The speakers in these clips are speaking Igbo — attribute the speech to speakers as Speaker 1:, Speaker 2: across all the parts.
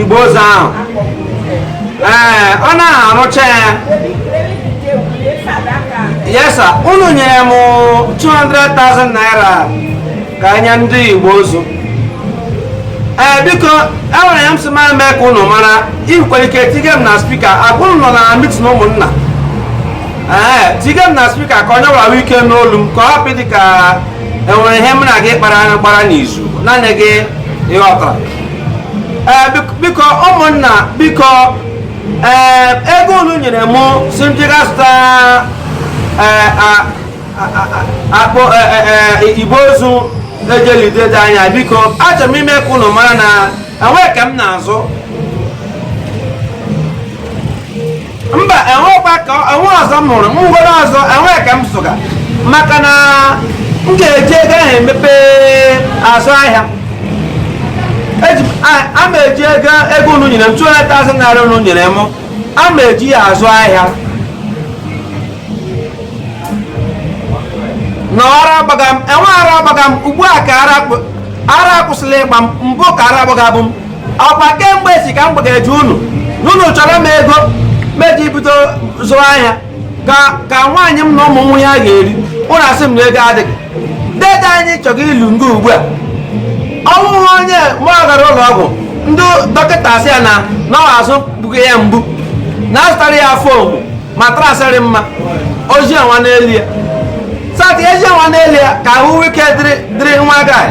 Speaker 1: igbe ozu ahụ ee ọ naghị arụcha ya yesa unu nyere m 200,000 naira ka e nye ndị igbe ozu ee biko enwere ihe m sị ma mee ka unu mara i nwere ike tige m na speaker ọ bụrụ ị nọ na mitin ụmụnna ee tige m na speaker ka onye ọbụla nwee ike nụ olu m ka ọ hapụ ịdị ka enwere ihe m na gị kpara gbara n'izu naanị gị ịghọtara eh, biko ụmụnna biko eh, ego unu nyere mụ sị m jiga zụta igbe ozu e ji eli dede anyị biko achọrọ m ime ka unu mara na enweghị ke m na-azụ mba enwekwa ka enwe ọzọ m hụrụ ngwere ọzọ enwe ke m zụga maka na m ga-eji ego ahụ emepe azụ ahịa a ma eji ego ego unu nyere m 200,000 naira unu nyere m a ma eji ya azụ ahịa na ara agbaga m enwe ara agbaga m ugbu a ka ara akwụsịla ịgba m mbụ ka ara agbagabu m ọkwa kemgbe si ka m gbageje unu n'unu chọọrọ m ego meji bido zụọ ahịa ka nwaanyị m na ụmụ nwee ihe ha ga-eri unu asị m na ego adịghị dede anyị chọrọ ili nga ugbu a ọ wụhụ onye ma ọ gara ụlọ ọgwụ ndị dọkịta asị ya na ọ wụ azụ gbuga ya mgbu na azụtara ya foam mattress rị mma o zie onwe n'elu ya sati eji nwa n'elu ya ka ahụ nwee ike dịrị dịrị nwa guy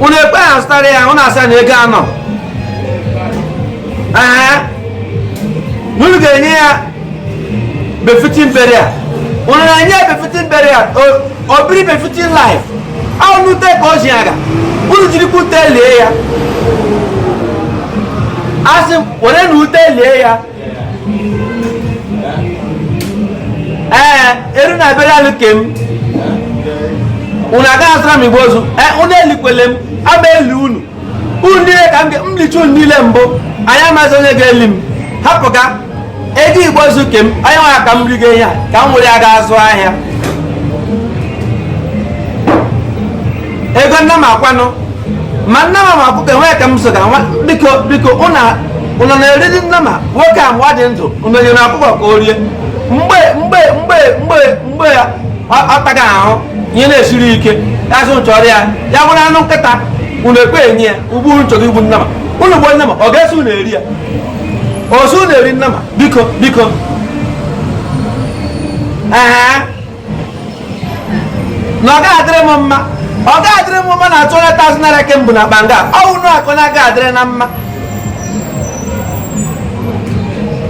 Speaker 1: unu ekwe azụtara ya unu asị na ego anọ ee unu ga-enye ya befitting burial unu na-enye ya befitting burial o biri befitting life ọ wụ n'ute ka o ji aga unu jirikwa ute lie ya asị m were na ute lie ya ee eru na burial ke m unu agaghị azụra m igbe ozu ee unu elikwele m ama eli unu unu niile ka m licha unu niile mbụ anyị amaghịzi onye ga-eli m hapụga ego igbe ozu ke m onye nwere ka m rigo ihe a ka m were ya ga azụ ahịa ego nnama kwanụ ma nnama ma ọkụkọ enweghị ke m zụga nwa biko biko unu unu na-eriri nnama nwoke a mgbe ọ dị ndụ unu nyere ọkụkọ ka o rie mgbe mgbe mgbe mgbe mgbe ya ọ- ọ taga ahụhụ ihe na-esiri ike ya sị unu chọọrọ ya ya bụrụ anụ nkịta ụnụ ekwe enye ya ugbu unu chọrọ igbu nnama ụnụ gbuo nnama ọ ga-eso ụnụ eri ya ozu na-eri nnama biko biko ee na ọ gaghị adịrị m mma ọ gaghị adịrị m mma na two hundred thousand naira ka m bu na akpa nga ọ wụ na akụ na-aga adịrị na mma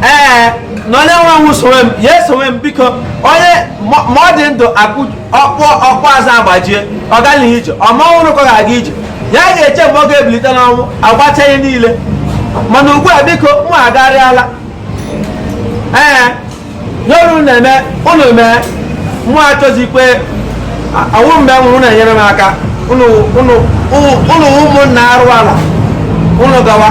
Speaker 1: ee na onye nwa nwụ sowe m ya esowe m biko onye ma ma ọ dị ndụ akụ ọkpụkpụ azụ agbajie ọ gaghị ije ọ ma ọ nwụrụ ka ọ ga-aga ije ya ga-eche mgbe ọ ga-ebilite n'ọnwụ agbacha ihe niile mana ugbu a biko mụ agarịala ee ihe ụnụ na-eme ụnụ mee mụ achọzikwe ọ wụ mgbe m nwụrụ na-enyere m aka ụnụ wụ ụmụnna arụ ala ụnụ gawa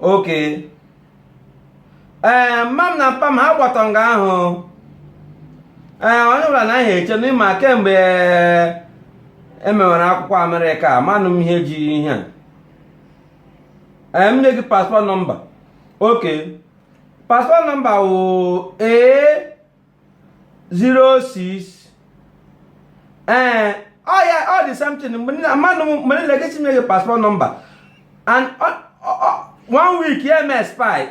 Speaker 1: okay ee mma m na mpa m ha gbatọ nga ahụ ee onye ọbụla na ihe eche na ị ma kemgbe emewere akwụkwọ amerịka manụ m ihe ji ihe a ee m nye gị passport number okay passport number wụ ee 06 ee ọya ọ the same thing mmadụ mgbe niile gị sị nye gị passport number and one week ya eme expire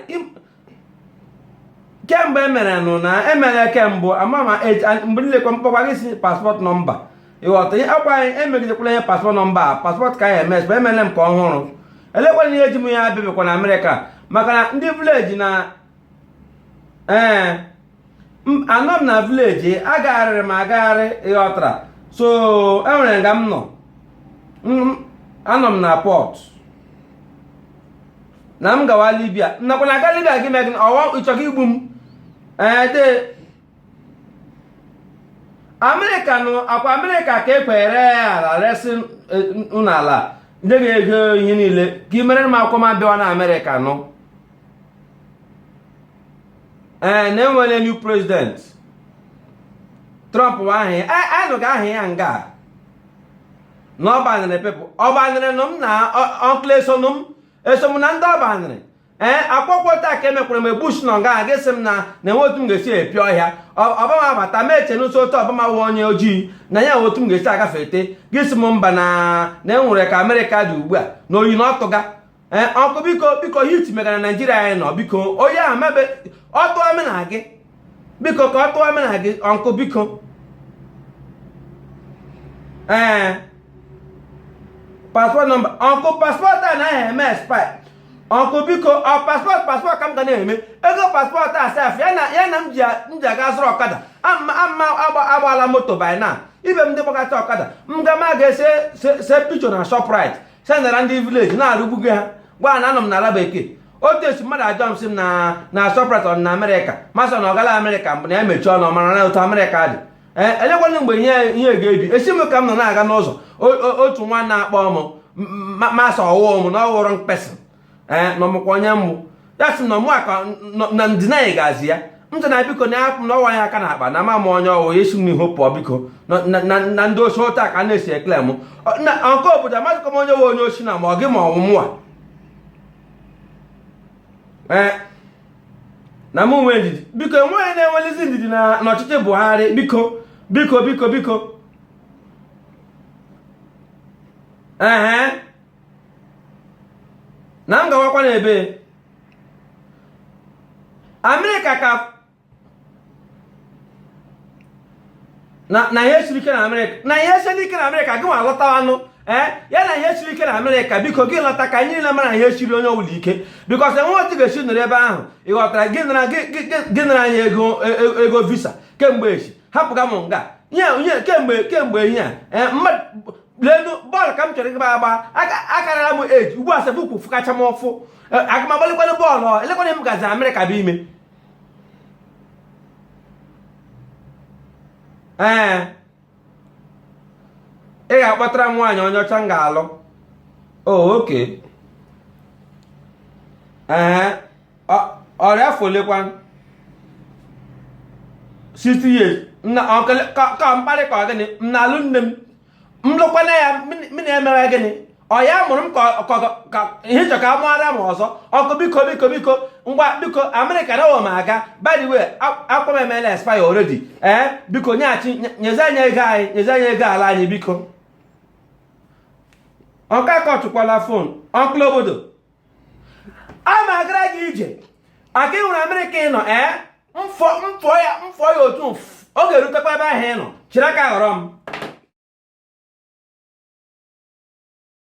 Speaker 1: ke mbụ emere nụ na emere ke mbụ ama ma mgbe niile kwa m kpọkwa gị sị passport number ịghọta ihe ọkwa anyị emegidekwala ihe passport number a passport ke anyị eme expire emere m ke ọhụrụ elekwana ihe eji m ya abịabịakwa na amerịka maka na ndị village na ee anọ m na village agagharịrị m agagharị ịghọtara so enwere nga m nọ anọ m na port na m gawa libya nakwa na aga libya gị megị ọwa ị chọga igbu m ee de amerịka nụ ọkwa amerịka ka ekwere ala resie ụnụ ala nye gị ego ihe niile ka i mere m akwụkwọ m abịawa na amerịka nụ ee eh, na enwere new president trump wụ aha ya anụga aha ya nga na ọ banịrị people ọ banịrị nụ m na uncle esonụ m eso na ndị ọ banịrị ee eh, akwụkwọ taa ka emekwara mgbe bush nọ nga gị sị m na na enwe otu m ga-esi epi ọhịa obama abata m eche n'ụsọ otu obama wụ onye ojii na ya enwe otu m ga-esi agafete gị sị m mba na na enwere ka amerịka dị ugbu a na oyi na ọtụga ee ọnkụ biko biko hit megara naijiria anyị nọ biko onye a mebe ọ tụọ mena gị biko ka ọ tụọ mena gị ọnkụ biko ee paspọt nọmba ọnkụ paspọt a naghị eme expire ọnkụ biko ọ paspọt paspọt ka m ga na-eme ego paspọt a sef ya na ya na m ji m ji aga zụrụ ọkada ama ama agba- agbaala moto by now ibe m ndị gbakọta ọkada m ga ma ga-ese se- se picture na shoprite sendara ndị vileji na-arụgbugo ha gwa ha na anọ m n'ala bekee otu esi mmadụ ajụọ m sị m na na shoprite ọ dị na amerịka m asị na ọ gaala amerịka mbụ na ya mechie ọnụ ọ mara na otu amerịka dị ee elekwana mgbe ihe ihe ga-ebi esi m ka m nọ na-aga n'ụzọ o- o- otu nwa na-akpọ m m asị ọ wụ m na ọ ghọrọ mkpesị ee eh, na ọ makwa onye m wụ ya sị na ọmụa ka na ndịna anyị ga-azị ya m sị na biko na ya na ọ wa ya aka n'akpa na ama m onye ọ wụ ya si m n'ihu pụọ biko na ndị osi ụta ka a na-esi ekele m na nke obodo amadịkọ m onye wụ onye osi na ma ọ gị ma ọ wụ mụwa ee eh, na mụ nwee ndidi biko enweghị na-enwelizi ndidi n'ọchịchị Buhari biko biko biko biko ee na m gawakwa n'ebe amerịka ka na ihe siri ike na amerịka na ihe siri ike na amerịka gị nwa alọtawanụ ee eh, ya na ihe siri ike na amerịka biko gị lọta ka anyị niile mara ihe siri onye ọbụla ike because enwe otu ga-esi nọrọ ebe ahụ ị ghọtara gị nara anyị e, e, ego visa kemgbe echi hapụga m nga nye kemgbe kemgbe ihe a eh, lenu bọọlụ ka m chọrọ ịgba agba akarala m age ugbu a sef ụkwụ fụkacha m ụfụ e, aga m agbalikwanụ bọọlụ elekwana m gazi amerịka bụ ime ee ị ga-akpọtara m nwaanyị onye ọcha m ga-alụ oh, okay ee ọ rị afọ olekwa 60 years ka mkparị ka ọ gịnị m na-alụ nne m m lụkwana ya m na-emewe gịnị ọ ya mụrụ m ka ị chọ ka a mụara m ọzọ ọnkụ biko biko biko ngwa biko amerịka na ụwa m aga by the way akwa m emela expire already ee eh, biko nyeghachi nyezi anyị ego anyị nyezi anyị ego ala anyị biko ọnkụ akọtụkwala fon ọnkụl obodo a ma agara gị ije aka ị hụrụ amerịka ị nọ ee mfọ mfọ ya mfọ ya otu ọ ga-erutekwa ebe ahụ ị nọ chịrị aka ghọrọ m